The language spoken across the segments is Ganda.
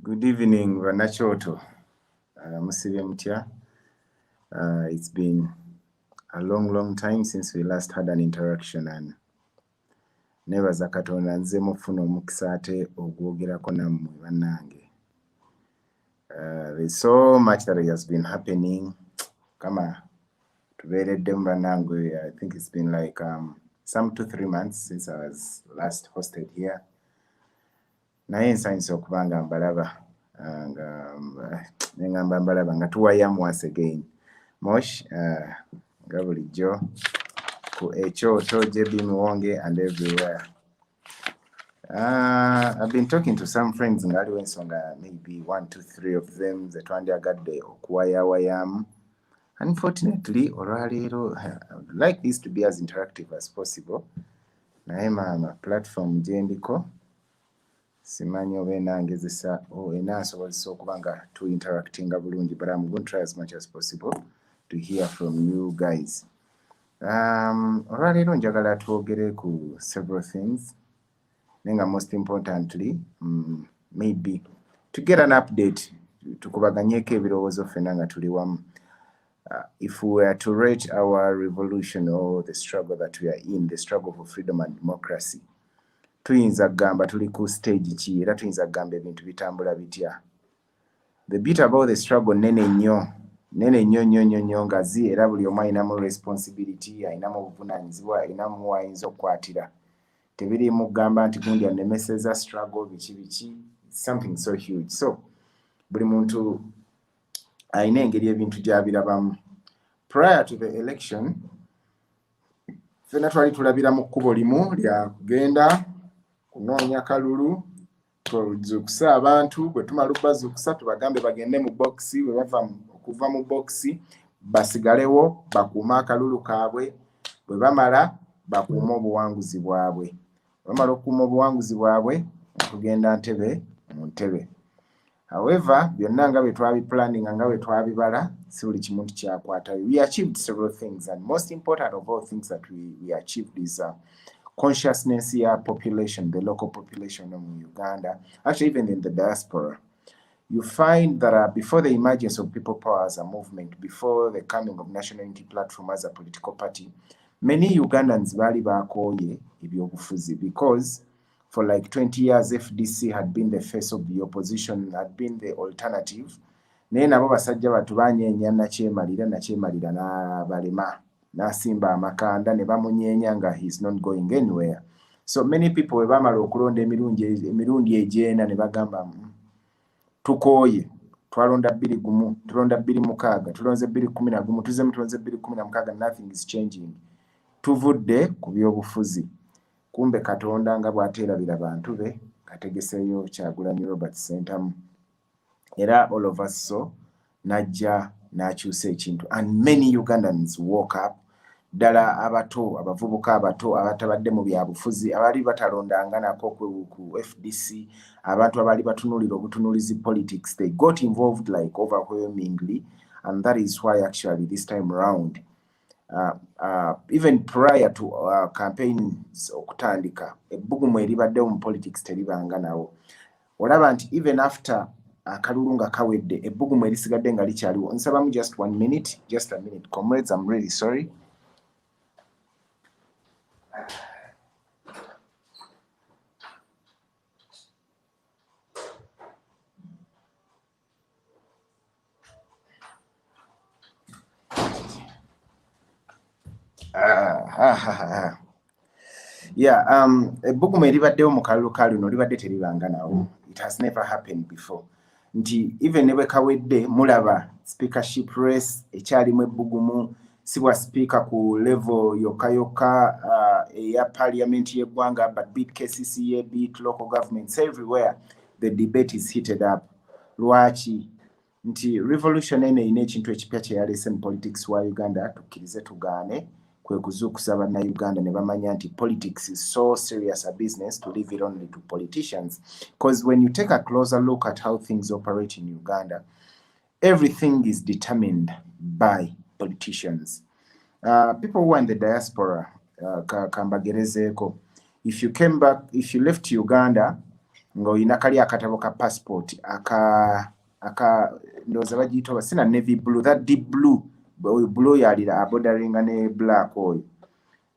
Good evening, Vanachoto. Uh, Musibe Mutya. Uh, it's been a long, long time since we last had an interaction and nebaza katonda nze mufuna omukisa ate ogwogerako nammwe bannange Uh, there's so much that has been happening kama tubeereddemu banange i think it's been like um, some two three months since i was last hosted here naye nsanyusa okuba nga mbalaba uh, nga um, nengamba mbalaba nga tuwayamu once again mosh uh, nga bulijjo ku ekyoto jb miwonge and everywhere Uh, I've been talking to some friends nga aliwo ensonga maybe one to three of them ze twandyagadde okuwayawayaamu unfortunately olwaleero like this to be as interactive as possible naye maama platform gyendiko simanyi oba enangezesa oh, enansobozesa okuba nga to interactinga bulungi but I'm going to try as much as possible to hear from you guys Um, olwaleero njagala twogere ku several things naye nga most importantly mm, maybe to get an update tukubaganyeko ebirowoozo ffena nga tuli wamu uh, if we were to rate our revolution or the struggle that we are in the struggle for freedom and democracy tuyinza kugamba tuli ku stage ki era tuyinza kugamba ebintu bitambula bitya the bit about the struggle nene nnyo nene nnyo nnyo nnyo nnyo ngazi era buli omu alinamu responsibility alinamu obuvunanyizibwa alinamu wayinza okukwatira tebiri mugamba nti gundi anemeseza struggle biki biki something so huge so buli muntu alina engeri ebintu gyabirabamu prior to the election fena twali tulabira mu kkubo limu lyakugenda kunoonya kalulu tuzuukuse abantu bwe tumala okubazuukusa tubagambe bagende mu bokisi bwe bava okuva mu bokisi basigalewo bakuume akalulu kaabwe bwe bamala bakuume obuwanguzi bwabwe bamala okukuuma obuwanguzi bwabwe okugenda ntebe mu ntebe however byonna nga bwe twabipulaninga nga bwe twabibala si buli kimu nti kyakwatayo we achieved several things and most important of all things that we, we achieved is uh, consciousness ya population the local population of uganda actually even in the diaspora you find that uh, before the emergence of people power as a movement before the coming of national unity platform as a political party many ugandans baali bakooye ebyobufuzi because for like 20 years fdc had been the face of the opposition had been the alternative naye nabo basajja batu banyeenya nakyemalira nakyemalira nabalema na n'asimba amakanda ne bamunyeenya nga he's not going anywhere so many people bwe baamala okulonda emirundi egyenda ne bagamba mm, tukooye twalonda bbiri gumu tulonda bbiri mukaaga tulonze bbiri kumi na gumu tuzemu tulonze bbiri kumi na mukaaga nothing is changing tuvudde ku byobufuzi kumbe katonda nga bw'ateerabira bantu be ategeseeyo kyagulanyi robert sentamu era all of us so najja n'akyusa ekintu and many ugandans walk up ddala abato abavubuka abato abatabadde mu byabufuzi abaali batalondanga nako ku fdc abantu abaali batunulira obutunulizi politics they got involved like overwhelmingly and that is why actually this time round uh, uh, even prior to uh, campaigns okutandika ebbugumu eribaddewo mu politics teribanga nawo olaba nti even after akalulu nga kawedde ebbugumu erisigadde nga likyaliwo nsabamu just one minute just a minute comrades am really sorry yeah um ebbugumu eribaddewo mu kalulu ka luno libadde teribanganawo it has never happened before nti even ne bwe kawedde mulaba speakership race ekyalimu ebbugumu si bwa sipiika ku level yokka yokka uh, eya parliament y'eggwanga but bit kcca bit local governments everywhere the debate is heated up lwaki nti revolution eno erina ekintu ekipya kyeyalese mu politics wa uganda tukkirize tugaane kwe kuzuukusa bannayuganda ne bamanya nti politics is so serious a business to leave it only to politicians because when you take a closer look at how things operate in uganda Everything is determined by politicians. Uh, people who are in the diaspora, uh, kambagerezeeko, if you came back, if you left Uganda, nga olina kali akatabo ka passport aka aka ndoza bagiyita sina navy blue that deep blue blue yalira abodaringa ne black oyo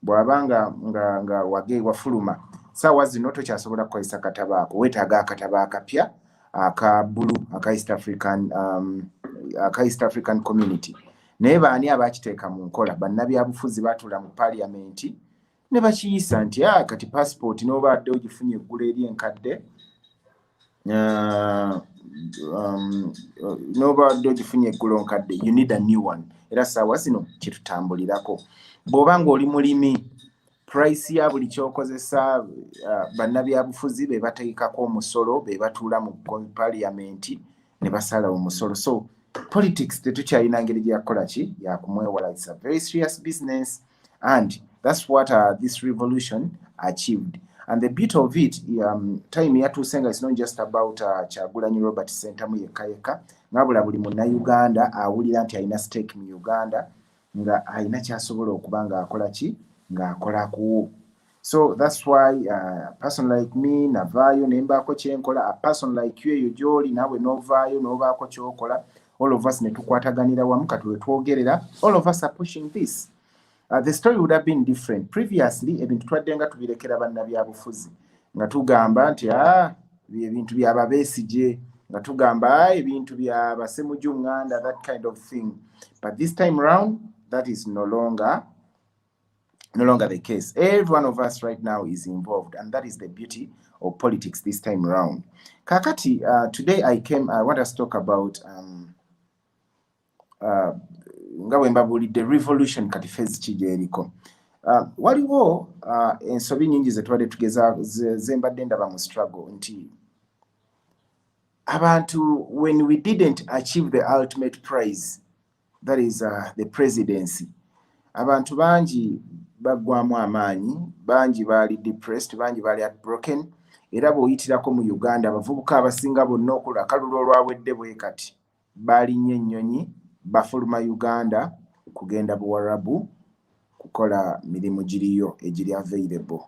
bw'aba nga nga nga wage wafuluma saawa zino tokyasobola kukozesa kataba ako weetaaga akataba akapya aka bulu aka east african um, aka east african community naye baani abakiteeka mu nkola bannabyabufuzi baatula mu paaliyamenti ne bakiyisa nti a ah, kati paasipooti n'oba adde ogifunye eggula eri enkadde uh, um, uh, nobadde ogifunye eggulo nkadde you need a new one era saawa zino kitutambulirako bw'oba ng'oli mulimi price ya buli kyokozesa uh, bannabyabufuzi be bateekako omusolo be batuula mu paliamenti ne basala omusolo so politics tetukyalina ngeri gyeyakukola ki yakumwewala its a very serious business and that's what uh, this revolution achieved and the bit of it um, time yatuuse nga it's not just about uh, kyagulanyi robert sentamu yekka yekka ngabula buli munnauganda awulira nti alina stake mu uganda nga alina kyasobola okuba nga akola ki nga akola kuwo so thats why uh, person like me navaayo nembaako kyenkola a person like you eyo gyoli naawe novaayo nobaako kyokola all of us netukwataganira wamu kati wetwogerera all of us are pushing this uh, the story would have been different previously ebintu twadde nga tubirekera bannabyabufuzi nga tugamba nti a ah, ebintu byababesigye nga tugamba ah, ebintu bya basemuju nganda that kind of thing but this time round that is no longer no longer the case every one of us right now is involved and that is the beauty of politics this time round kakati uh, today i came i want us talk about um, uh, nga bwe mbabuulidde revolution kati fezi ki gyeriko uh, waliwo uh, ensobi nyingi zetubadde tugeza zembadde ndaba mu struggle nti abantu when we didn't achieve the ultimate prize that is uh, the presidency abantu bangi baggwamu amaanyi bangi baali depressed bangi baali at broken era bw'oyitirako mu uganda abavubuka abasinga bonna okula kalulu olwawedde bwe kati Baalinnye ennyonyi bafuluma Uganda kugenda Buwarabu kukola mirimu giriyo egiri available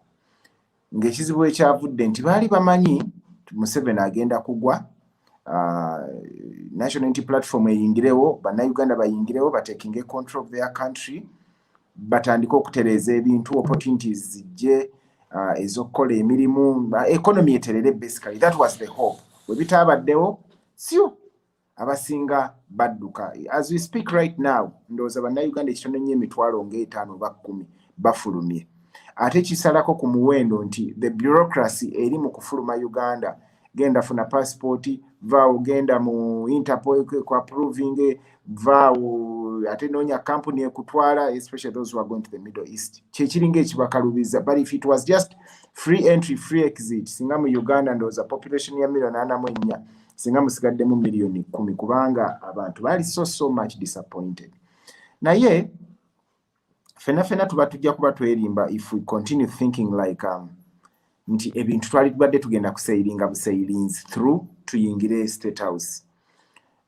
ng'ekizibu we kyavudde nti baali bamanyi Museveni agenda kugwa uh, National Unity Platform eyingirewo, Bannayuganda bayingirewo batekinge control of their country batandike okutereeza ebintu opportunities zijje uh, ezokukola emirimu uh, economy eterere basically that was the hope webitaabaddewo sio abasinga badduka as we speak right now ndowooza bannayuganda ekitono nnyo emitwalo ngaetaano oba kkumi bafulumye ate kisalako ku muwendo nti the bureaucracy eri mu kufuluma uganda genda funa passport vaawo genda mu interpol ku approving vaawo ate noonya kampuni ekutwala especially those who are going to the middle east kyekiringa ekibakalubiza but if it was just free entry free exit singa mu uganda ndowooza population ya million ana mu ennya singa musigaddemu million kumi kubanga abantu baali so so much disappointed naye fena fena tuba tujja kuba twerimba if we continue thinking like um, nti ebintu twali tubadde tugenda kuseyiringa buseyirinzi through tuyingire state house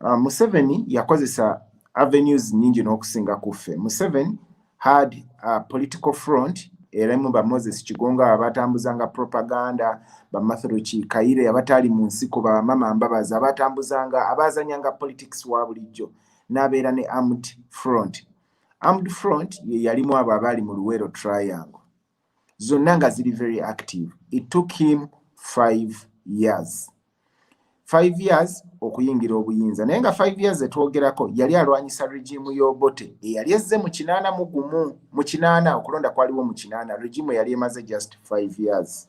uh, museveni yakozesa avenues nyingi n'okusinga kuffe museveni had a political front era mu ba moses kigonga abatambuzanga propaganda bamatheroki kayire abataali mu nsiko bamama mbabazi abatambuzanga abazanyanga politics wa bulijjo n'abeera ne armed front armed front ye yalimu abo abaali mu luwero triangle zonna nga ziri very active it took him five years five years okuyingira obuyinza naye nga five years etwogerako yali alwanyisa regimu y'obote eyali ezze mu kinaana mu gumu mu kinaana okulonda kwaliwo mu kinaana regimu eyali emaze just five years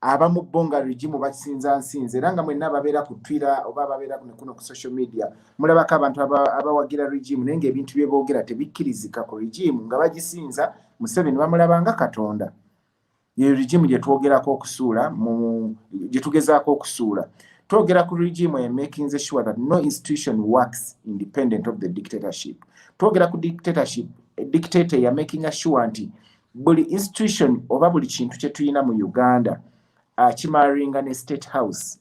abamu bo nga regimu basinza nsinza era nga mwenna ababeera ku twitter oba ababeera kuno ku social media mulabako abantu abawagira regimu naye ngaebintu byeboogera tebikkirizika ku regimu nga bagisinza museveni bamulabanga katonda eyo regimu gyetwogerako okusuula gyetugezaako okusuula twogera ku regimu e making the sure that no institution works independent of the dictatorship twogera ku dictatorship dictator ya making sure nti buli institution oba buli kintu kye tulina mu uganda akimaringa ne state house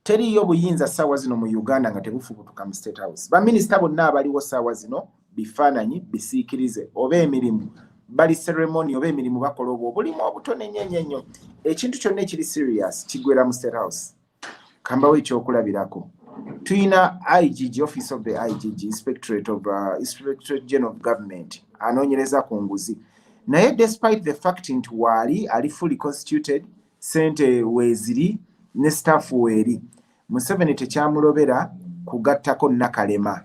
teriyo buyinza saawa zino mu uganda nga tebufubutuka mu state house baminisita bonna abaliwo saawa zino bifaananyi bisiikirize oba emirimu bali ceremony oba emirimu bakola obwo obulimu obutonenyo enyo enyo ekintu kyonna ekiri serious kigwera mu state house kambawo ekyokulabirako tulina igg office of the igg inspectorate of uh, inspectorate general of government anoonyereza ku nguzi naye despite the fact nti waali ali fully constituted sente weeziri ne staff weeri museveni tekyamulobera kugattako nakalema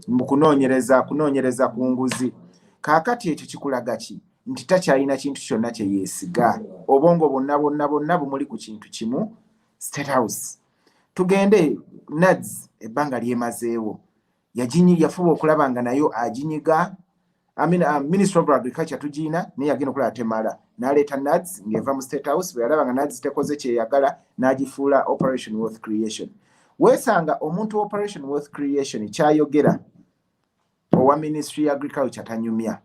mbu kunoonyereza kunoonyereza ku nguzi kaakati ekyo kikulaga ki nti takyalina kintu kyonna kye yeesiga obwongo bwonna bwonna bwonna bumuli ku kintu kimu state house tugende nads ebbanga lyemazeewo yaginyi yafuba okulaba nga nayo aginyiga I mean, uh, minister of agriculture tugina naye yagenda okulaba temala naleeta nads ngaeva mu state house bwe yalaba nga nads tekoze kyeyagala n'agifuula operation wealth creation weesanga omuntu operation wealth creation kyayogera owa ministry ya agriculture tanyumya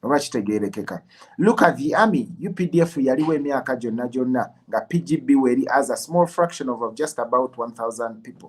oba kitegerekeka look at the army updf yaliwo emyaka gyonna gyonna nga pgb weri as a small fraction of just about 1000 people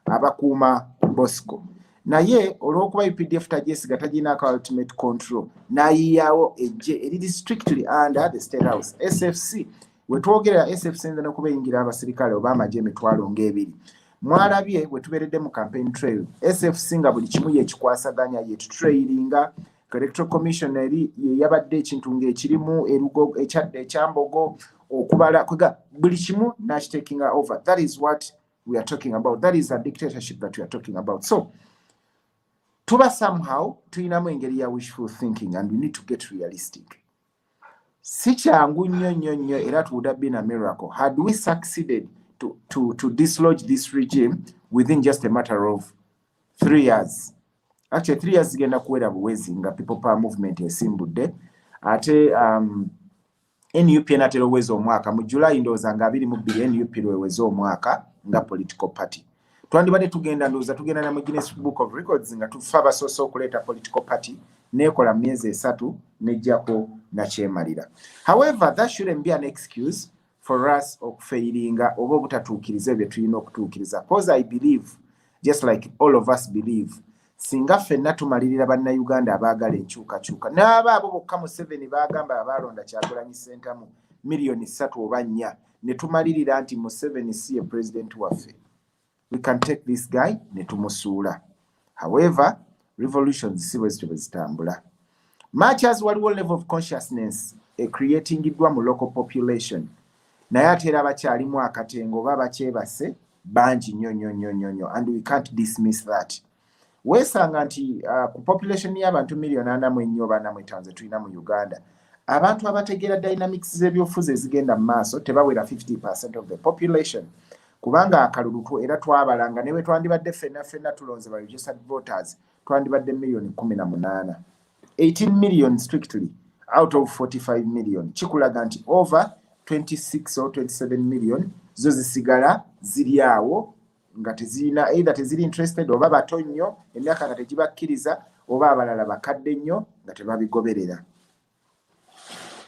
abakuuma bosco naye olwokuba updf tagyesiga taginako ultimate control nayiyawo ejje eriri strictly under the state house sfc wetwogerera sfc nze nokuba eyingira abasirikale oba amagye emitwalo ngaebiri mwalabye we tubeeredde mu campaign trail sfc nga buli kimu yekikwasaganya yetutrailinga electoral commission eri yeyabadde ekintu ngaekirimu erugo ekyadde ekyambogo okubala kwega buli kimu nakitakinga over that is what we are talking about that is a dictatorship that we are talking about so tuba somehow tulinamu engeri ya wishful thinking and we need to get realistic si kyangu nnyo nnyo nnyo era to would have been a miracle had we succeeded to, to, to dislodge this regime within just a matter of three years actually three years zigenda kuwera buwezi nga people power movement esimbudde ate um, nup enatera oweza omwaka mu july ndowooza nga abiri mu bbiri nup lweweza omwaka nga political party twandibadde tugenda ndowooza tugenda na mu guinness book of records nga tufa abasoose okuleeta political party neekola myezi esatu nejjako nakyemalira however that shouldn't be an excuse for us okufeyiringa oba obutatuukiriza ebyo tulina okutuukiriza cause i believe just like all of us believe singa ffenna tumalirira bannayuganda abaagala enkyukakyuka n'aba abo bokka museveni baagamba abaalonda kyagulanyi sentamu miliyoni ssatu oba nnya netumalirira nti museveni si ye president waffe we can take this guy netumusuula however revolutions si bwezityo bwezitambula much as waliwo level of consciousness ecreatingiddwa mu local population naye ate era bakyalimu akatengo oba bakyebase bangi nyo nyo nyo nyo nyo and we can't dismiss that weesanga nti uh, ku population y'abantu million ana mu ennyo oba ana mu etaano zetulina mu uganda abantu abategeera dynamics z'ebyobufuzi ezigenda mu maaso tebawera 50 percent of the population kubanga akalulu era twabalanga ne bwe twandibadde ffenna ffenna tulonze ba registered voters twandibadde miliyoni kumi na munaana 18 million strictly out of 45 million kikulaga nti over 26 or 27 million zo zisigala ziri awo nga tezirina either teziri interested oba bato nnyo emyaka nga tegibakkiriza oba abalala bakadde nnyo nga tebabigoberera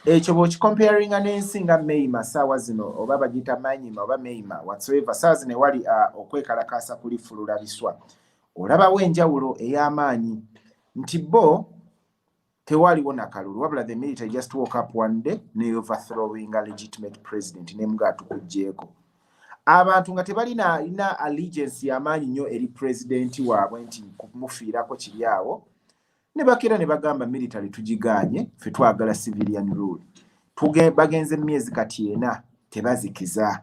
ekyo bwokikomparinga n'ensi nga mayima saawa zino oba bagiyita manyima oba mayima whatsoever saawa zino ewali uh, okwekalakaasa kuli fulula biswa olabawo enjawulo ey'amaanyi nti bo tewaliwo nakalulu wabula the military just woke up one day ne overthrowing a legitimate president nemuga atukujjeeko abantu nga tebalina alina allegiance yamaanyi nnyo eri president waabwe nti kumufiirako kiri awo ne bakera ne bagamba military tugiganye fe twagala civilian rule bagenze mu myezi kati ena tebazikiza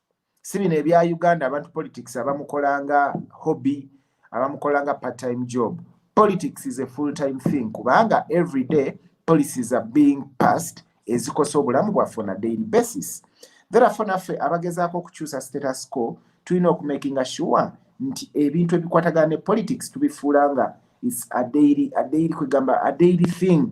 si bino ebya uganda abantu politics abamukolanga hobby abamukolanga part time job politics is a full time thing kubanga every day policies are being passed ezikosa obulamu bwaffe on a daily basis therefore naffe abagezaako okukyusa status quo tulina okumakinga sure nti ebintu ebikwatagana ne politics tubifuula nga is a daily a daily kwegamba a daily thing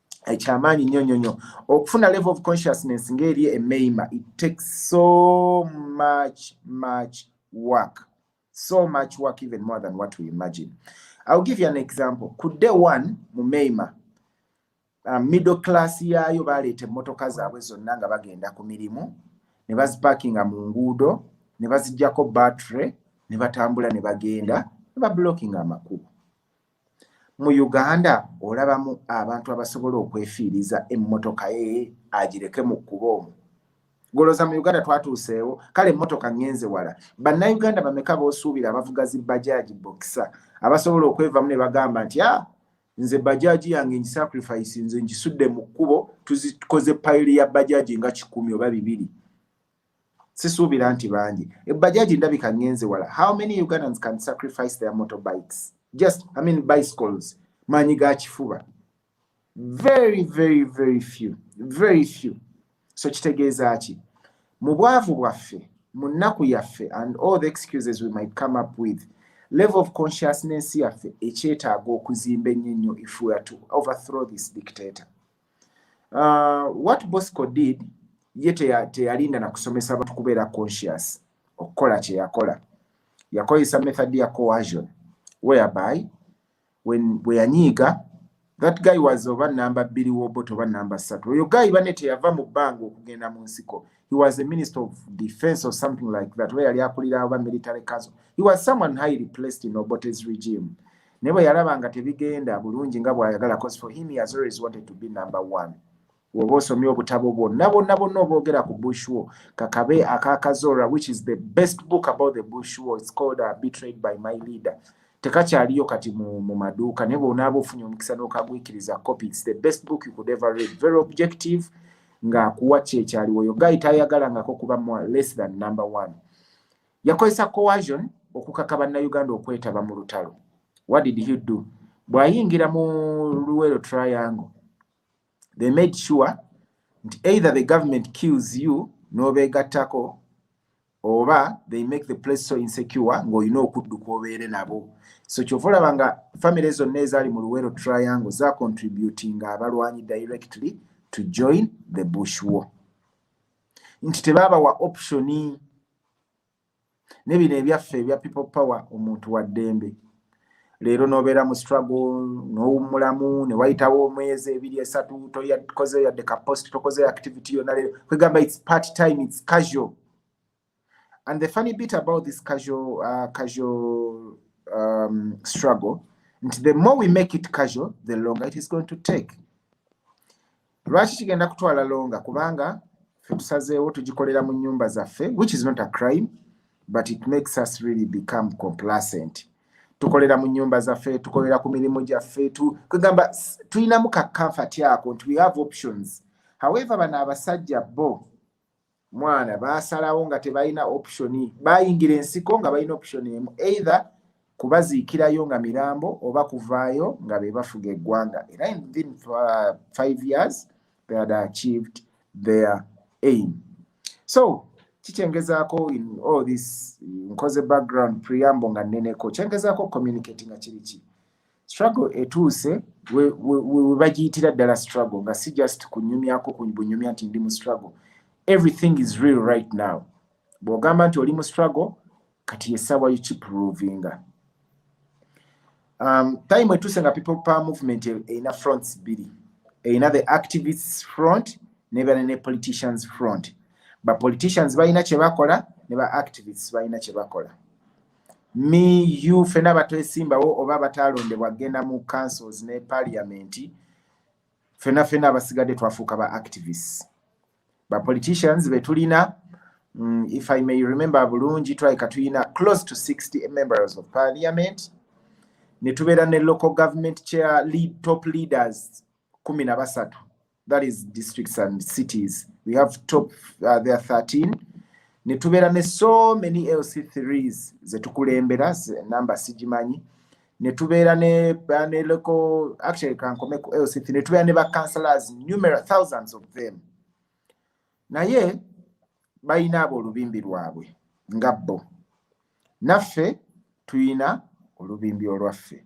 ekyamaanyi nnyo nnyo nnyo okufuna level of consciousness ng'eri emeima it takes so much much work so much work even more than what we imagine ill give you an example ku day one mu meima uh, middle class yaayo baleeta emmotoka zaabwe zonna nga bagenda ku mirimu ne bazipakinga mu nguudo ne bazijjako battery ne batambula ne bagenda ne bablockinga amakubo mu uganda olabamu abantu abasobola okwefiiriza emmotoka ye agireke mu kkuba omu goloza mu uganda twatuuseewo kale emmotoka ngenze wala bannayuganda bameka boosuubira abavuga zi bajaaji bokisa abasobola okwevamu ne bagamba nti a ah, nze bajaaji yange ngisacrifice nze ngisudde mu kkubo tuzikoze payiri ya bajaaji nga kikumi oba bibiri sisuubira nti bangi ebbajaji ndabika ngenze wala how many ugandans can sacrifice their motor bikes just i mean bicycles maanyi ga kifuba very very very few very few so kitegeeza ki mu bwavu bwaffe mu nnaku yaffe and all the excuses we might come up with level of consciousness yaffe ekyetaaga okuzimba ennyo nnyo if we are to overthrow this dictator uh, what bosco did ye teyalinda na kusomesa abantu kubeera conscious okukola kyeyakola yakozesa method ya coasion whereby when bweyanyiiga that guy was oba namba bbiri wobot oba namba ssatu oyo guy bane teyava mu bbanga okugenda mu nsiko he was a minister of defense or something like that oba yali akulira oba military council he was someone highly placed in obotes regime naye bwe yalaba nga tebigenda bulungi nga bw'ayagala cause for him he has always wanted to be number one woba osomye obutabo bwonna bwonna bwonna oboogera ku bushwo kakabe akakazora which is the best book about the bushwo its called uh, betrayed by my leader tekakyaliyo kati mu, mu maduuka naye bwonaaba ofunye omukisa n'okagwikiriza copy its the best book you could ever read very objective ng'akuwa kyekyaliwo yo gayi tayagalangako kuba less than number one yakozesa coercion okukaka bannayuganda okwetaba mu lutalo what did he do bw'ayingira mu luwero triangle they made sure nti either the government kills you n'obeegattako oba they make the place so insecure ng'olina okudduka obeere nabo so kyova olaba nga famire zonna ezaali mu luwero triangle za contributing abalwanyi directly to join the bush war nti tebaabawa optioni ne bino ebyaffe ebya people power omuntu wa ddembe leero nobeera mu struggle nowummulamu newayitawo omwezi ebiri esatu tokoze yadde ka post tokoze activity yona leero kwegamba its part time its casual and the funny bit about this casual, uh, casual um, struggle nti the more we make it casual the longer it is going to take lwaki kigenda kutwala longa kubanga fetusazeewo tugikolera mu nyumba zaffe which is not a crime but it makes us really become complacent tukolera mu nyumba zaffe tukolera ku mirimu gyaffe kwegamba tulinamu ka comfort ako nti we have options however bano abasajja bo mwana baasalawo nga tebalina optioni bayingira ensiko nga balina optioni emu either kubaziikirayo nga mirambo oba kuvaayo nga be bafuga eggwanga era within uh, five years they had achieved their aim so kikyengezaako in all this nkoze background preamble nga nneneko kyengezaako communicati nga kiri ki struggle etuuse webagiyitira ddala struggle nga si just kunyumyako bunyumya nti ndi mu struggle everything is real right now bw'ogamba nti oli mu struggle kati yessaawa yukiprovinga um, time etuuse nga people power movement erina fronts bbiri erina the activists front nebeera ne politicians front ba politicians balina kye bakola ne ba activists balina kye bakola me you fena batwesimbawo oba batalondebwa genda mu councils ne parliament fena fena abasigadde twafuuka ba activists ba politicians betulina mm, if i may remember bulungi twaika tulina close to 60 members of parliament ne tubeera ne local government chair lead top leaders kumi na basatu that is districts and cities we have top uh, there 13 ne tubeera ne so many lc3s ze tukulembera namba sigimanyi ne tubeera ne neleko actually kankome ku lc3 ne tubeera ne ba councillors numerous thousands of them naye balina abo olubimbi lwabwe nga bo naffe tulina olubimbi olwaffe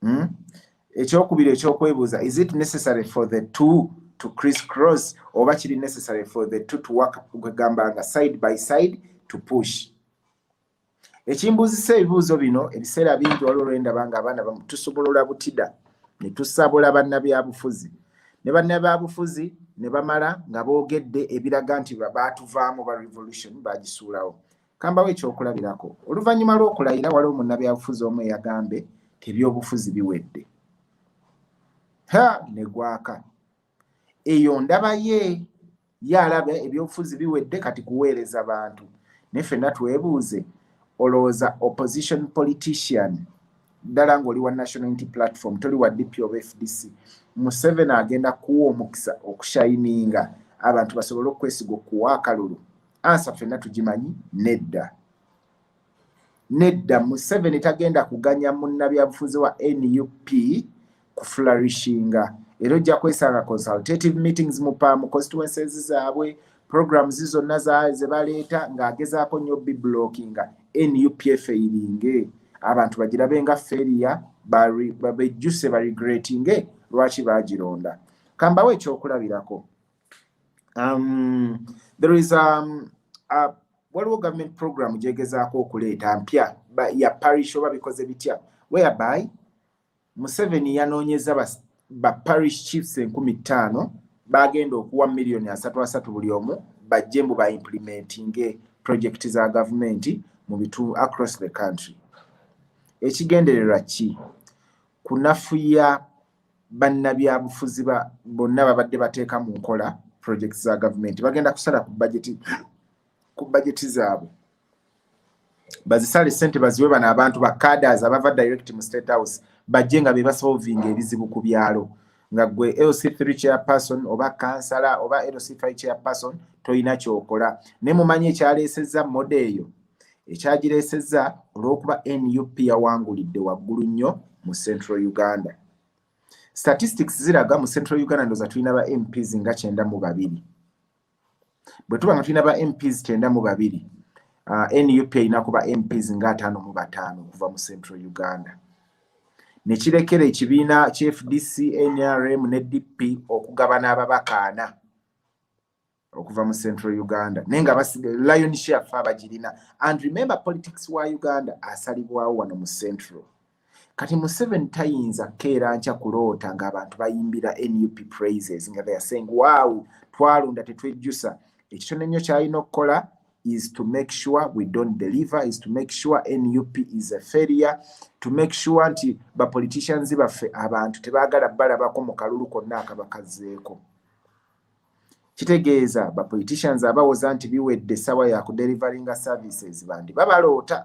hmm? ekyokubiri ekyokwebuuza is it necessary for the two to criss cross oba kiri necessary for the two to work kwegamba nga side by side to push ekimbuuzisa ebibuuzo bino ebiseera bingi waliwo lwendaba nga abaana tusobolora butida ne tusabula bannabyabufuzi ne bannabyabufuzi ne bamala nga boogedde ebiraga nti baatuvaamu ba revolution bagisuulawo Kambawo ekyokulabirako oluvannyuma lw'okulayira waliwo munnabyabufuzi omu eyagambe nti ebyobufuzi biwedde ha ne gwaka eyo ndaba ye ye alaba ebyobufuzi biwedde kati kuweereza bantu naye fenna twebuuze olowooza opposition politician ddala ng'oli wa national unity platform toli wa dp oba fdc museveni agenda kuwa omukisa okushayininga abantu basobole okukwesiga okuwa akalulu ansa fenna tugimanyi nedda nedda museveni tagenda kuganya munnabyabufuzi wa nup ku flourishinga era ojja kwesanga consultative meetings mu pa mu constituences zaabwe programs zonna ze baleeta ng'agezaako nnyo biblockinga nup efeiringe abantu bagirabe nga feria bejjuse baregretinge lwaki baagironda kambawo ekyokulabirako um, there is um, a waliwo government program gyegezaako okuleeta mpya ya parish oba bikoze bitya whereby museveni yanoonyeza ba, ba parish chiefs enkumi ttaano bagenda okuwa miliyoni asatu asatu buli omu bajje mbu baimplementinge project za gavumenti mu bitundu across the country ekigendererwa ki kunafuya bannabyabufuzi bonna babadde bateeka mu nkola projects za gavumenti bagenda kusala ku bajeti ku bajeti zaabwe bazisale sente baziwe bano abantu ba caders abava direct mu state house bajje nga bebasolvinga ebizibu ku byalo nga gwe lc3 chairperson oba kansala oba lc5 chairperson tolina kyokola ne mumanyi ekyaleesezza moda eyo ekyagireesezza olw'okuba nup yawangulidde waggulu nnyo mu central uganda statistics ziraga mu central uganda ndoza tulina ba mps nga kyenda mu babiri bwe tuba nga tulina ba mps kyenda mu babiri uh, nup erina kuba mps nga ataano mu bataano okuva mu central uganda ne kirekera ekibiina kya fdc nrm ne dp okugabana ababakaana okuva mu central uganda naye nga lion share fa bagirina and remember politics wa uganda asalibwawo wano mu central kati museven tayinza keera nkya kuloota ngaabantu bayimbira nup praises nga theyare saying wow twalunda tetwejjusa ekitone nnyo kyalina okukola is to make sure we don't deliver is to make sure nup is a failure to make sure nti bapoliticians baffe abantu tebagala balabako mu kalulu konna akabakazzeeko kitegeeza ba politicians abawoza nti biwedde sawa ya ku delivering services bandi babaloota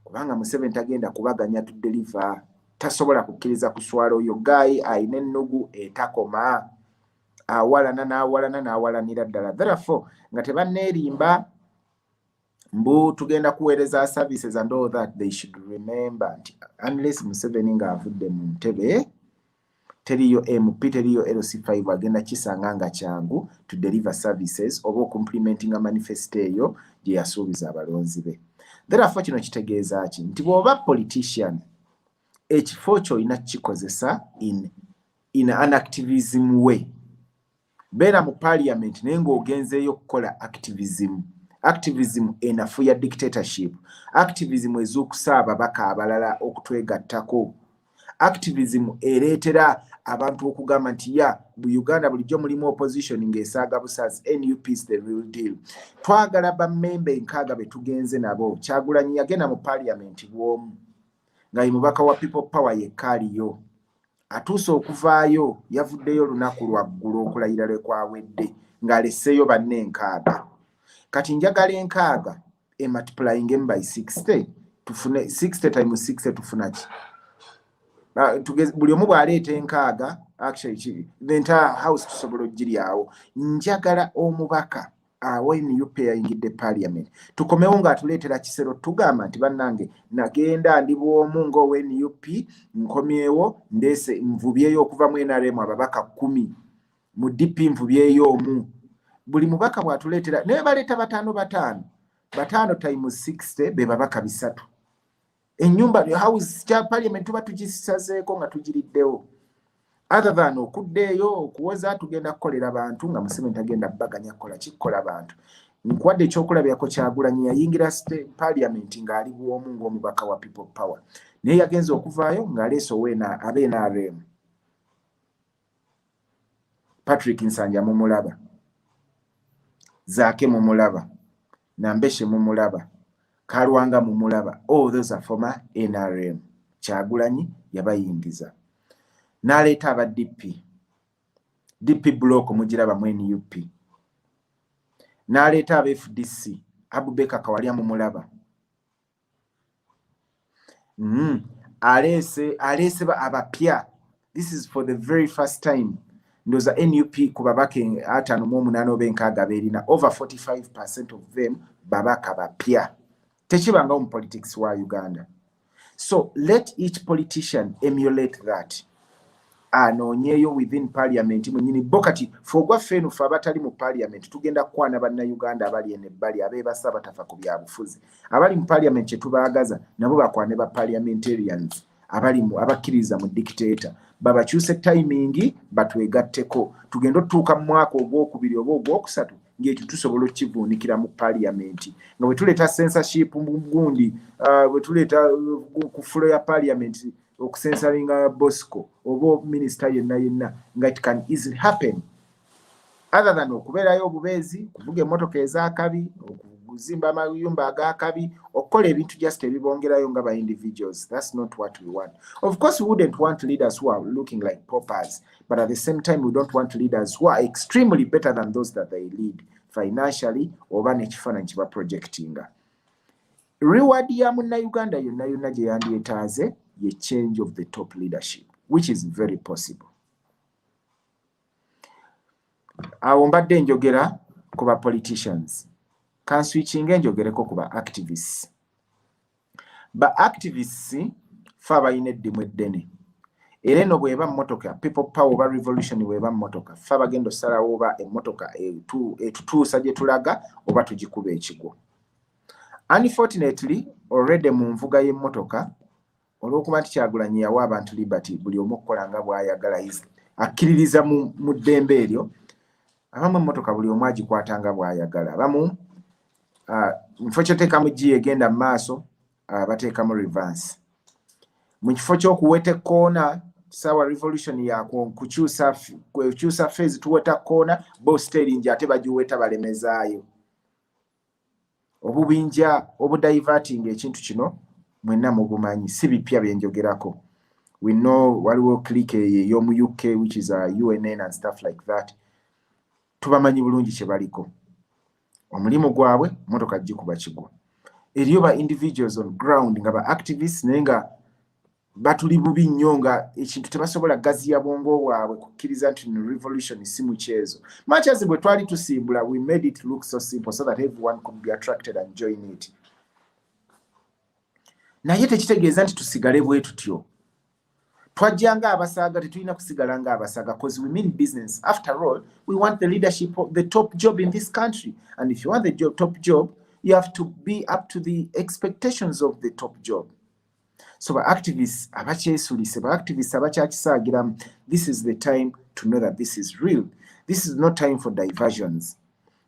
kubanga museveni tagenda kubaganya to deliver tasobola kukkiriza kuswala oyo gaayi alina ennugu etakoma awalana n'awalana n'awalanira ddala therefore nga tebanneerimba mbu tugenda kuweereza services and all that they should remember nti unless museveni ng'avudde mu ntebe teriyo mp teriyo lc five agenda kisanga nga kyangu to deliver services oba okumplimentinga manifesto eyo gye yasuubiza abalonzi be therefo kino kitegeeza ki nti bw'oba politician ekifo kyo olina kukikozesa in, in an activism way beera mu parliament naye ng'ogenzeeyo okukola activism activism enafu ya dictatorship activism ezuukusa ababaka abalala okutwegattako activism ereetera abantu okugamba nti ya bu uganda bulijjo mulimu opposition ng'esaaga busazi nup is the real deal twagala bamemba enkaaga be tugenze nabo kyagulanyi yagenda mu parliament bw'omu nga ye mubaka wa people power yekka aliyo atuuse okuvaayo yavuddeyo olunaku lwaggulu okulayira lwe kwawedde ng'aleseeyo banne enkaaga kati njagala enkaaga ematipulainge mu by 60 tufune 60 time 60 tufuna ki ah, buli omu bw'aleeta enkaaga actually the entire house tusobola okugiryawo njagala omubaka awo nup yayingidde parliament tukomewo ngaatuleetera kisero tugamba nti bannange nagenda ndi bwomu ngaow nup nkomyewo ndeese nvubyeyo okuva mu nrm ababaka kumi mu dp nvubyeyo omu buli mubaka bwatuleetera naye baleeta bataano bataano bataano time 60 be babaka bisatu enyumba house kya parliament tuba tukisazeeko nga tugiriddewo other than okuddeeyo okuwoza tugenda kukolera bantu nga museveni tagenda baganya kukola kikukola bantu nkuwadde ekyokulabirako kyagulanyi yayingira parliament ng'ali bwomu ng'omubaka wa people power naye yagenza okuvaayo ng'aleese oweena abe nrm patrick nsanja mumulaba zaake mumulaba nambeshe mumulaba kalwanga mumulaba all oh, those are former nrm kyagulanyi yabayingiza naleeta aba dp dp block mugiraba mu nup naleeta aba fdc abubeka kawalya mumulaba mm. aleese aleese abapya this is for the very first time ndoza nup ku babaka atano mu omunaana oba enkaaga beerina over 45 percent of them babaka bapya tekibangawo mu politics wa uganda so let each politician emulate that anoonyeeyo within parliament mwenyini bo kati fe ogwaffe eno fe abatali mu parliament tugenda kukwana bannayuganda abali eno ebbali abeebasa batafa ku byabufuzi abali mu parliament kye tubaagaza nabo bakwane ba parliamentarians abali mu abakkiririza mu dictator babakyuse tayimingi batwegatteko tugenda otutuuka mu mwaka ogwokubiri oba ogwokusatu ng'ekyo tusobola okukivuunikira mu parliamenti nga bwe tuleeta censorship gundi uh, bwe tuleeta uh, ku fulo ya parliamenti okusensalinga bosco oba minisita yenna yenna nga it can easily happen other than okubeerayo obubeezi kuvuga emmotoka ez'akabi okuzimba amayumba ag'akabi okukola ebintu just ebibongerayo nga ba individuals that's not what we want of course we wouldn't want leaders who are looking like poppers but at the same time we don't want leaders who are extremely better than those that they lead financially oba nekifaananyi kiba projectinga reward ya munnayuganda yonna yonna gye yandyetaaze ye change of the top leadership which is very possible awo mbadde enjogera ku ba politicians kanswichinga enjogereko ku ba activists ba activists fe abalina eddimu eddene era eno bweba mmotoka people power oba revolution bweba mmotoka fe abagenda osalawo oba emmotoka etutuusa gye tulaga oba tugikuba ekigwo unfortunately already mu nvuga y'emmotoka olw'okuba nti kyagulanyi yawa abantu liberty buli omu okukola nga bw'ayagala akkiririza mu ddembe eryo abamu emmotoka buli omu agikwata nga bw'ayagala abamu ah, mufo kyoteekamu gi egenda mu maaso ah, bateekamu revanse mu kifo ky'okuweta ekkoona saawa revolution yakukyusa fezi tuweta kkoona bo steringi ate bagiweta balemezaayo obubinja obudiverting ekintu kino mwenna mubumanyi si bipya byenjogerako we know waliwo click eyo ey'omu uk which is a uh, unn and stuff like that tubamanyi bulungi kye baliko omulimu gwabwe motoka gikuba kigwa eriyo ba individuals on ground nga ba activists naye nga batuli bubi nnyo nga ekintu tebasobola gaziya bwongo bwabwe kukkiriza nti no revolution si mukyezo machazi bwe twali tusimbula we made it look so simple so that everyone could be attracted and join it naye tekitegeeza nti tusigale bwe tutyo twajja nga abasaga tetulina kusigala nga abasaga bcause we mean business after all we want the leadership of the top job in this country and if you want the job, top job you have to be up to the expectations of the top job so ba activists abakyesulise ba activists abakyakisaagiramu this is the time to know that this is real this is no time for diversions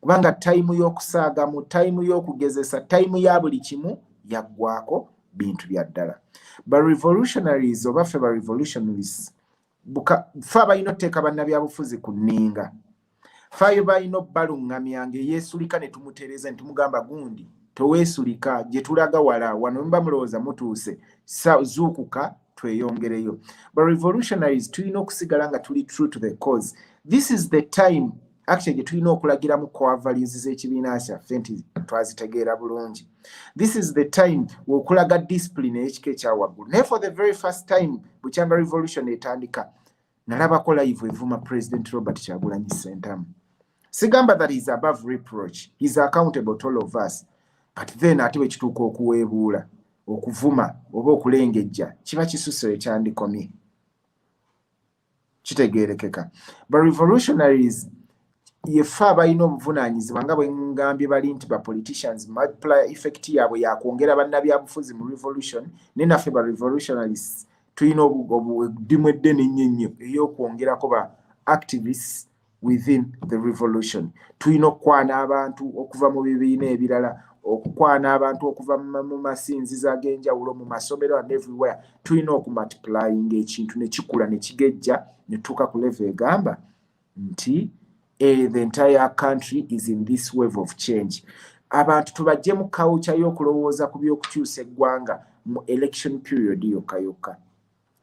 kubanga tayimu y'okusaagamu tayimu y'okugezesa tayimu ya buli kimu yaggwako bintu bya ddala ba revolutionaries oba ffe ba revolutionaries fe abalina oteeka bannabyabufuzi ku nninga fe ayo balina obbaluŋŋamya ngaeyeesulika ne tumutereeza ne tumugamba gundi teweesulika gye tulaga wala wano muba mulowooza mutuuse zuukuka tweyongereyo ba revolutionaries tulina okusigala nga tuli true to the cause this is the time actually gye tulina okulagiramu core values z'ekibiina kyaffe nti twazitegeera bulungi this is the time wokulaga discipline eyekika ekyawaggulu naye for the very first time bukyanga revolution etandika nalabako live evuma president robert kyagulanyi sentamu sigamba that is above reproach is accountable to all of us but then ate bwekituuka okuweebuula okuvuma oba okulengejja kiba kisuseyo kyandikomye kitegeerekeka ba revolutionaries yefe abalina obuvunaanyizibwa nga bwengambye bali nti ba politicians multiplier effect yaabwe yakwongera bannabyabufuzi mu revolution naye naffe ba revolutionaries tulina obudimu eddene ennyo ennyo ey'okwongerako ba activists within the revolution tulina okukwana abantu okuva mu bibiina ebirala okukwana abantu okuva mu masinzizo ag'enjawulo mu masomero and everywhere tulina okumultiplyinga ekintu ne kikula ne kigejja ne tutuuka ku leve egamba nti eh, the entire country is in this wave of change abantu tubajje mu kawukya y'okulowooza ku by'okukyusa eggwanga mu election period yokka yokka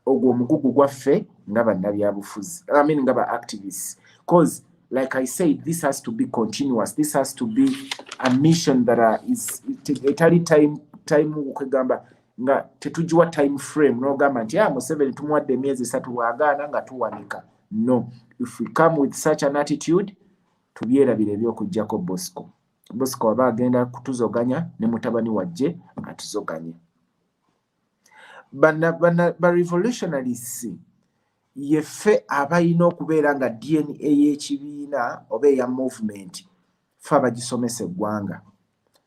ogwo omugugu gwaffe nga bannabyabufuzi i mean nga ba activists cause like i said this has to be continuous this has to be a mission that uh, is etali time time kwegamba nga tetugiwa time frame nogamba nti a ah, museveni tumuwadde emyezi esatu bwagaana nga tuwanika no if we come with such an attitude tubyerabira ebyokujjako bosco bosco aba agenda kutuzoganya ne mutabani wajje atuzoganye ba revolutionaries yeffe abalina okubeera nga dna y'ekibiina oba eya movement fe abagisomesa eggwanga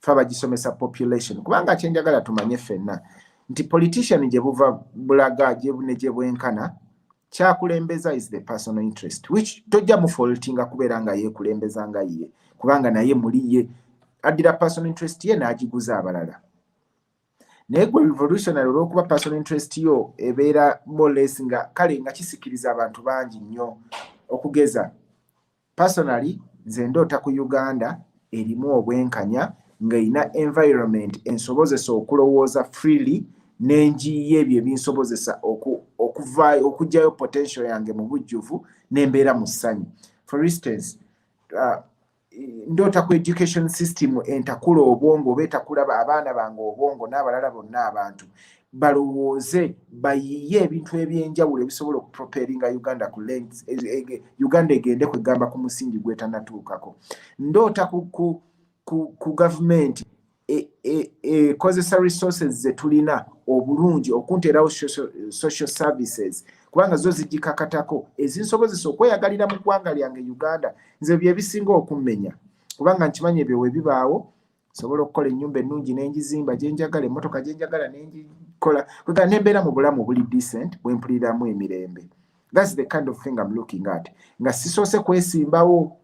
fe abagisomesa population kubanga kyenjagala tumanye ffenna nti politician gye buva bulaga ne gye bwenkana kyakulembeza is the personal interest which tojja mufoltinga kubeera nga yeekulembeza nga ye kubanga naye muli ye addira personal interest ye n'agiguza abalala naye gwe revolutionary olwokuba personal interest yo ebeera moles nga kale nga kisikiriza abantu bangi nnyo okugeza personally nze ndoota ku uganda erimu obwenkanya ng'erina environment ensobozesa okulowooza freely n'enjiiye ebyo ebinsobozesa okuvaayo okugyayo potential yange mu bujjuvu nembeera mu ssanyu for instance uh, ndoota ku education system entakula obwongo oba etakula abaana bange obwongo n'abalala bonna abantu balowooze bayiye ebintu ebyenjawulo ebisobola okuproperinga uganda ku lens e, e, e, uganda egende kwegamba ku musingi gwetanatuukako ndoota ku, ku, ku, ku gavumenti ekozesa e, e, resources ze tulina obulungi okunteerawo social services kubanga zo zigikakatako ezinsobozesa okweyagalira mu ggwanga lyange uganda nze byebisinga okummenya kubanga nkimanyi ebyo webibaawo sobola okukola ennyumba ennungi n'engizimba gyenjagala emmotoka gyenjagala nengikola kwega nembeera mu bulamu obuli decent bwempuliramu emirembe thats the kind of thing am looking at nga sisoose kwesimbawo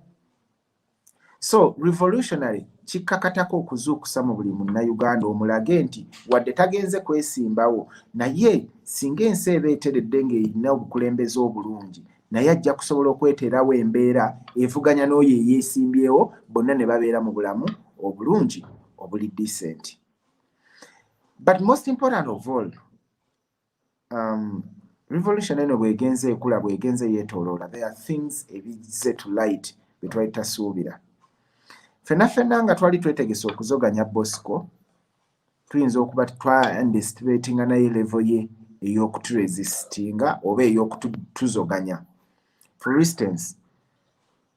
so revolutionary kikkakatako okuzuukusa mu buli munnayuganda omulage nti wadde tagenze kwesimbawo naye singa ensi eba eteredde ng'erina obukulembeze obulungi naye ajja kusobola okweteerawo embeera evuganya n'oyo eyeesimbyewo bonna ne babeera mu bulamu obulungi obuli decent but most important of all um, revolution eno bwegenze ekula bwegenze yetoloola there are things ebize to light byetwali tasuubira fena fena nga twali twetegese okuzoganya bosco tuyinza okuba twaandestibatinga naye levo ye eyokuturesistinga oba eyokutuzoganya for instance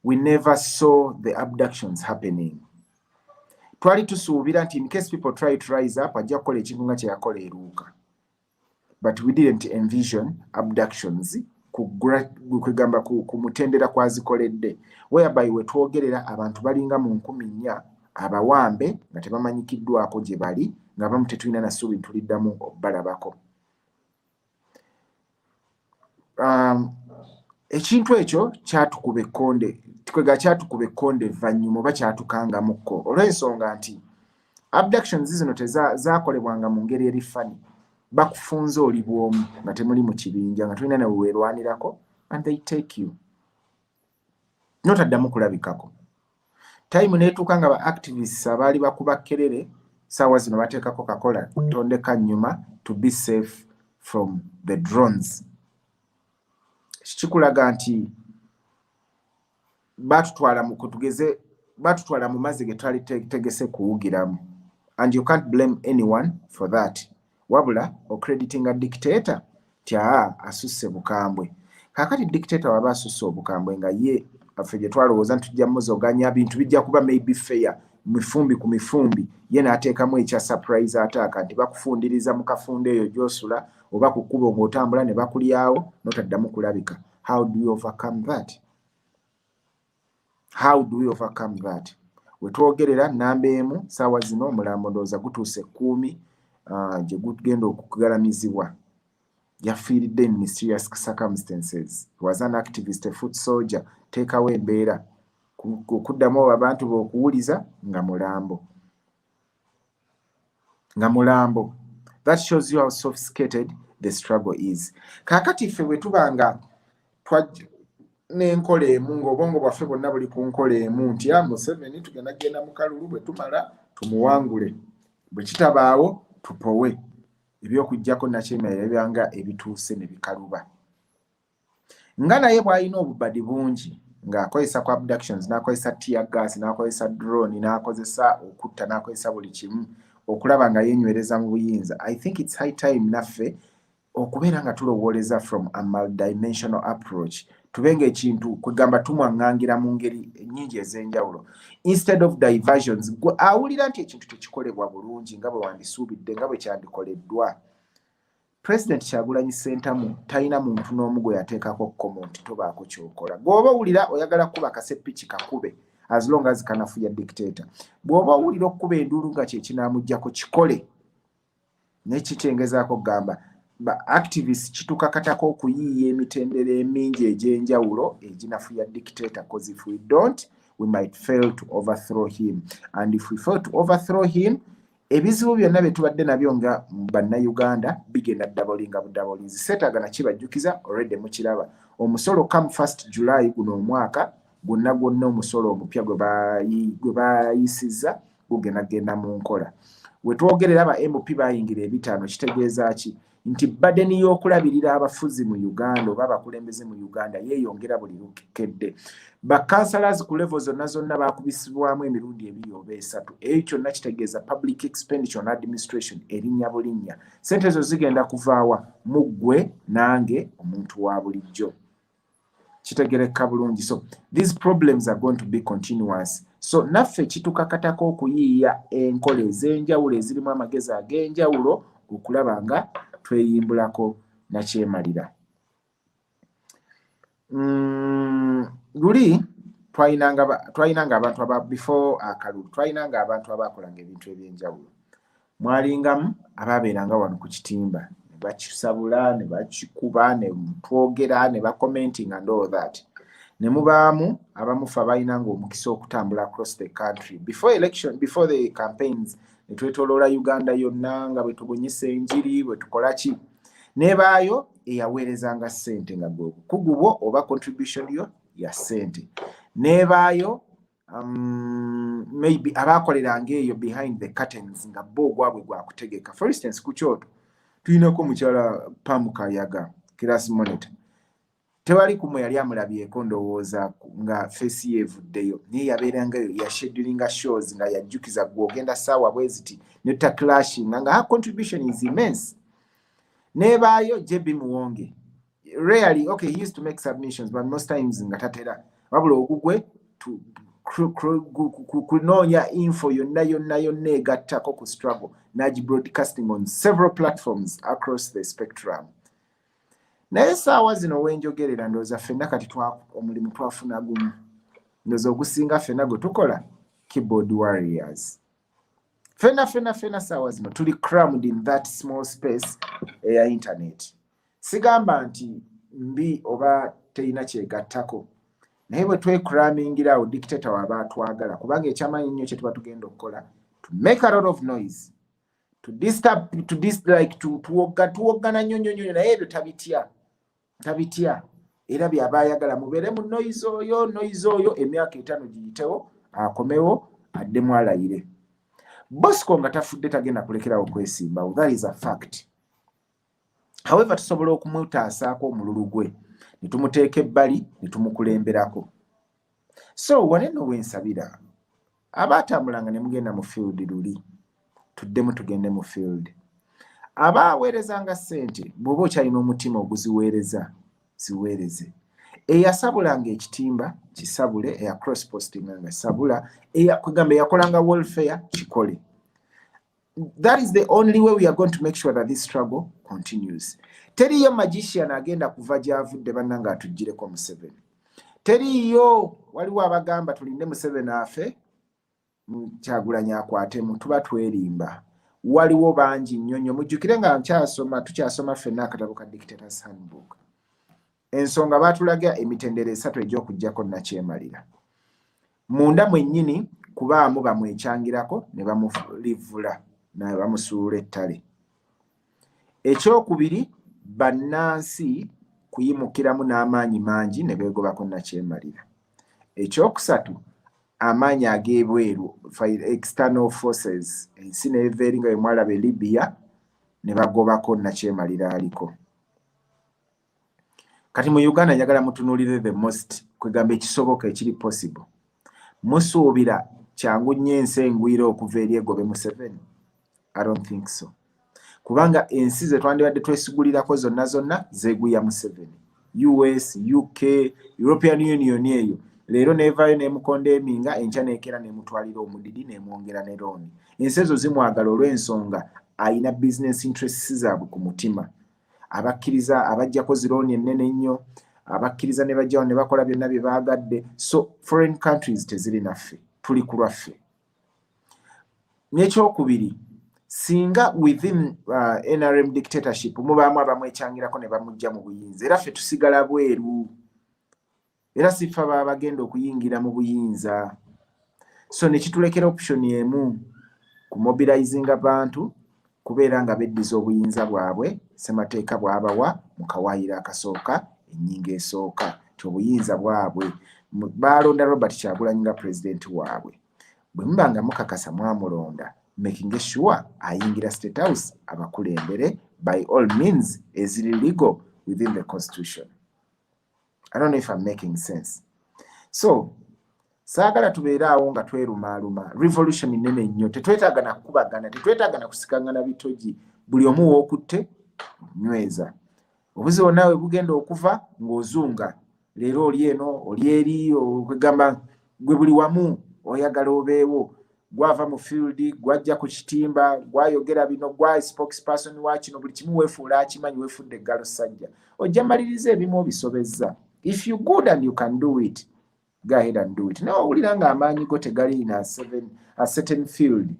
we never saw the abductions happening twali tusuubira nti in case people try to rise up ajja kukola ekintu nga kyeyakola eruuka but we didn't envision abductions kwegamba ku, ku mutendera kwazikoledde whereby wetwogerera abantu balinga mu nkumi nnya abawambe nga tebamanyikiddwako gye bali nga bamu tetulina nasuubi ntuliddamu okubalabako um, ekintu ekyo kyatukuba ekkonde tukwega kyatukuba ekkonde evvannyuma oba kyatukangamukko olw'ensonga nti abductions zino tezakolebwanga mu ngeri eri fani bakufunza oli bwomu nga temuli mu kibinja nga tulina newe weerwanirako and they take you notaddamu kulabikako time netuuka nga ba activists abaali bakuba kerere saawa zino bateekako kakola tondeka nyuma to be safe from the drones kikulaga nti batutwala mu kutugeze batutwala mu mazzi ge twali tegese kuwugiramu and you can't blame anyone for that wabula ocreditinga dictator tyaa asusse bukambwe kakati dictator waba asusse obukambwe nga ye affe gye twalowooza nti tujja muzoganya bintu bijja kuba maybe fair mifumbi ku mifumbi ye n'ateekamu ekya surprise ataaka nti bakufundiriza mu kafunda eyo gyosula oba ku kkubo ng'otambula ne bakulyawo notaddamu kulabika how do you overcome that how do we overcome that wetwogerera namba emu saawa zino omulambo ndowooza gutuuse ekkuumi uh, gye gugenda okugalamizibwa yafiiridde in mysterious circumstances was an activist a foot soldier teekawo embeera okuddamu abantu beokuwuliza nga mulambo nga mulambo that shows you how sophisticated the struggle is kakati ffe bwetuba nga nenkola emu ngaobwongo bwaffe bwonna buli ku nkola emu nti a ah, museveni tugenda genda mukalulu bwetumala tumuwangule bwekitabaawo tupowe ebyokujjako nakyemera ebyanga ebituuse ne bikaluba nga naye bwalina obubadi bungi ng'akozesa ku abductions n'akozesa tear gas n'akozesa drone n'akozesa okutta n'akozesa buli kimu okulaba nga yenywereza mu buyinza i think its high time naffe okubeera nga tulowooleza from a multidimensional approach tube nga ekintu kwegamba tumwaŋŋangira mu ngeri nnyingi ez'enjawulo instead of diversions gwe awulira nti ekintu tekikolebwa bulungi nga bwe wandisuubidde nga bwe kyandikoleddwa president kyagulanyi sentamu talina muntu n'omu gwe yateekako kkomo nti tobaako kyokola gweoba owulira oyagala kukuba kasepiki kakube as long as kanafuya dictator bw'oba owulira okukuba enduulu nga kyekinaamuggyako kikole naye kitengezaako kugamba ba activist kitukakatako okuyiiya emitendera emingi egy'enjawulo eginafuya dictator cause if we don't we might fail to overthrow him and if we fail to overthrow him ebizibu byonna bye tubadde nabyo nga bannayuganda bigenda dabolinga budabolinzi seetaaga nakibajjukiza olwedde mukiraba omusolo come first july guno omwaka gwonna gwonna omusolo omupya gwe bayisizza gugenda kugenda mu nkola we twogerera ba mp bayingira ebitaano kitegeeza ki nti badeni y'okulabirira abafuzi mu uganda oba abakulembeze mu uganda yeeyongera buli lukedde bakansalazi ku levo zonna zonna bakubisibwamu emirundi ebiri oba esatu eyo kyonna kitegeeza public expenditure on administration erinnya bulinnya sente ezo zigenda kuvaawa mu ggwe nange omuntu wa bulijjo kitegerekka bulungi so these problems are going to be continuous so naffe kitukakatako okuyiiya enkola ez'enjawulo ezirimu amagezi ag'enjawulo okulaba nga tweyimbulako nakyemalira mm, luli twalinanga abantu aba before akalulu twalinanga abantu abakolanga ebintu eby'enjawulo mwalingamu abaabeeranga wano ku kitimba ne bakisabula ne bakikuba ne twogera ne bakomentinga and all that ne mubaamu abamufa abalina ngaomukisa okutambula across the country before election before the campaigns ne twetoloola uganda yonna nga bwe tubunyisa enjiri bwe tukola ki nebaayo eyaweerezanga ssente nga gwe obukugu bwo oba contribution yo ya ssente nebaayo um, maybe abaakoleranga eyo behind the curtains nga bo ogwabwe gwakutegeka for instance ku kyoto tulinako mukyala pam kayaga class monitor tewali kumwe yali amulabyeko ndowooza nga fesi ye evuddeyo naye yabeerangayo yashedulinga shows nga yajjukiza gwe ogenda saawa bweziti neta clashinga nga her contribution is immense nebaayo jb muwonge rarely okay he used to make submissions but most times nga tatera wabula ogugwe kunoonya info yonna yonna yonna egattako ku struggle nagi broadcasting on several platforms across the spectrum naye saawa zino wenjogerera ndooza fenna kati omulimu twafuna gumu ndooza ogusinga fenna gwe tukola keyboard warriors fena fena fena saawa zino tuli crammed in that small space eya internet sigamba nti mbi oba terina kyegattako naye bwe twekuramingira awo dictator waba atwagala kubanga ekyamanyi nnyo kyetuba tugenda okukola to make a lot of noise to disturb to dislike to tuwoggana nnyo nnyo nnyo naye ebyo tabitya tabitya era byaba ayagala mubeere mu noyizi oyo noyizi oyo emyaka etaano giyitewo akomewo addemu alayire bosco nga tafudde tagenda kulekerawo kwesimbawo that is a fact however tusobola okumutaasaako omululu gwe ne tumuteeka ebbali ne tumukulemberako so wano eno wensabira abaatambulanga ne mugenda mu field luli tuddemu tugende mu field aba aweerezanga ssente bw'oba okyalina omutima oguziweereza ziweereze eyasabulanga ekitimba kisabule eya cross postinga nga sabula kwegamba eyakolanga welfare kikole that is the only way we are going to make sure that this struggle continues teriyo magician agenda kuva gyavudde banna nga atugireko museveni teriyo waliwo abagamba tulinde museveni afe kyagulanyi akwatemu tuba twerimba waliwo bangi nnyo nnyo mujjukire nga nkyasoma tukyasoma ffenna akatabo ka dictators handbook ensonga baatulaga emitendera esatu egy'okuggyako nnakyemalira munda mwennyini kubaamu bamwekyangirako ne bamulivvula naye bamusuula ettale ekyokubiri bannansi kuyimukiramu n'amaanyi mangi ne beegobako nnakyemalira ekyokusatu amaanyi ag'ebweru external forces ensi neeva eri nga bemwalaba e libya ne bagobako nnakyemalira aliko kati mu uganda njagala mutunulire the most kwegamba ekisoboka ekiri possible musuubira kyangu nnyo ensi engwira okuva eri egobe museveni i don't think so kubanga ensi zetwandibadde twesigulirako zonna zonna zeguya museveni us uk european union eyo leero nevayo nemukonda eminga enkya nekera nemutwalira omudidi nemwongera ne looni ensi ezo zimwagala olwensonga ayina business interests zabwe ku mutima abakkiriza abajjako zirooni ennene ennyo abakkiriza ne bajjawo ne bakola byonna bye baagadde so foreign countries teziri naffe tuli ku lwaffe n'ekyokubiri singa within uh, nrm dictatorship mubaamu abamwekyangirako ne bamujja mu buyinza era ffe tusigala bweru era siffa baba bagenda okuyingira mu buyinza so nekitulekera option emu ku mobilizing abantu kubeera nga beddiza obuyinza bwabwe ssemateeka bwabawa mu kawaayiro akasooka ennyingo esooka ti obuyinza bwabwe baalonda robert kyagulanyi nga pulezidenti waabwe bwe muba nga mukakasa mwamulonda making sure ayingira state house abakulembere by all means eziri legal within the constitution I don't know if I'm making sense. So, saagala tubeere awo nga twerumaaluma revolution nene nnyo tetwetaaga na kukubagana tetwetaaga na kusikangana bitogi buli omu wookutte nyweza obuzibu naawe bugenda okuva ng'ozunga leero oli eno oli eri okwegamba gwe buli wamu oyagala obeewo gwava mu field gwajja ku kitimba gwayogera bino gwa spokesperson wa kino buli kimu weefuula akimanyi weefudde eggalo ssajja ojja maliriza ebimu obisobezza if you good and you can do it go ahead and do it naye owulira nga amaanyi go tegali in a certain field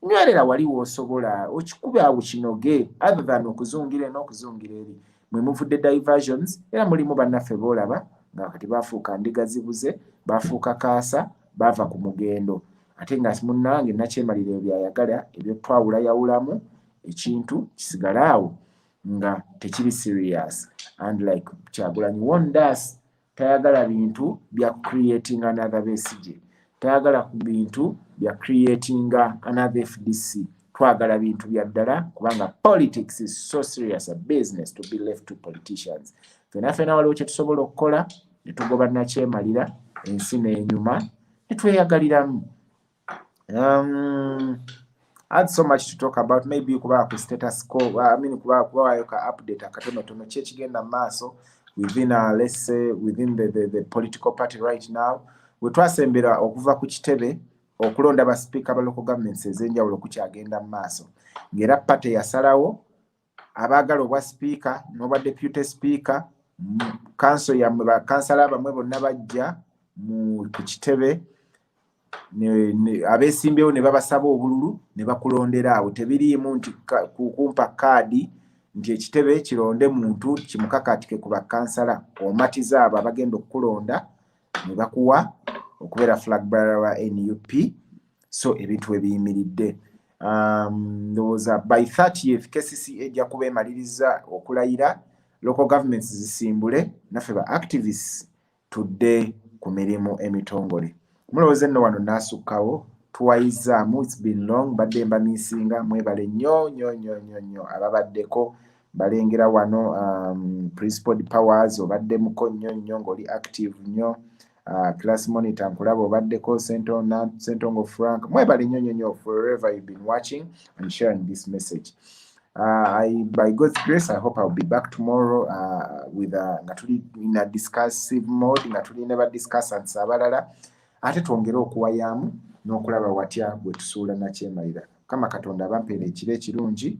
nywerera wali woosobola okikuba awo kinoge other than okuzungira n'okuzungira eri mwe muvudde diversions era mulimu bannaffe boolaba nga kati baafuuka ndiga zibuze baafuuka kaasa baava ku mugendo ate nga munnange nakyemalira ebyo byayagala ebyo twawulayawulamu ekintu kisigale awo nga tekiri serious and like kyagulanyi wondas tayagala bintu bya creating another besige tayagala ku bintu bya creating another fdc twagala bintu bya ddala kubanga politics is so serious a business to be left to politicians fena fena waliwo kyetusobola okukola ne tugoba nakyemalira ensi n'enyuma ne tweyagaliramu um, add so much to talk about maybe kuba ku status ko I mean kuba kuba wayo ka update akatono tono kye kigenda maaso within a let's say within the, the, the political party right now we twasembera okuva ku kitebe okulonda ba speaker ba local governments ezenjawulo kukyagenda maaso ngera party yasalawo abaagala obwa sipiika n'obwa deputy sipiika kanso yammwe bakansala bamwe bonna bajja ku kitebe abeesimbyewo ne babasaba obululu ne bakulondera awo tebiriimu nti kukumpa kaadi nti ekitebe kironde muntu kimukakatike ku bakansala omatiza abo abagenda okukulonda nebakuwa okubeera flag bearer wa nup so ebintu ebiyimiridde um, ndowooza by 30th kcca ejja kuba emaliriza okulayira local governments zisimbule naffe ba activists tudde ku mirimu emitongole mulowooza enno wano naasukkawo tuwayizaamu its been long mbadde mbamiisinga mwebale nnyo nnyo nnyo nnyo nnyo ababaddeko balengera wano um, principled powers obaddemuko nnyo nnyo ng'oli active nnyo uh, class monitor nkulaba obaddeko sentongo frank mwebale nnyo nnyo nnyo forever you've been watching and sharing this message Uh, I, by God's grace, I hope I'll be back tomorrow uh, with a, nga tuli in a discussive mode nga tuli ne ba discussants abalala ate twongere okuwayaamu n'okulaba watya bwe tusuula nakyemalira kama katonda abampeera ekiro ekirungi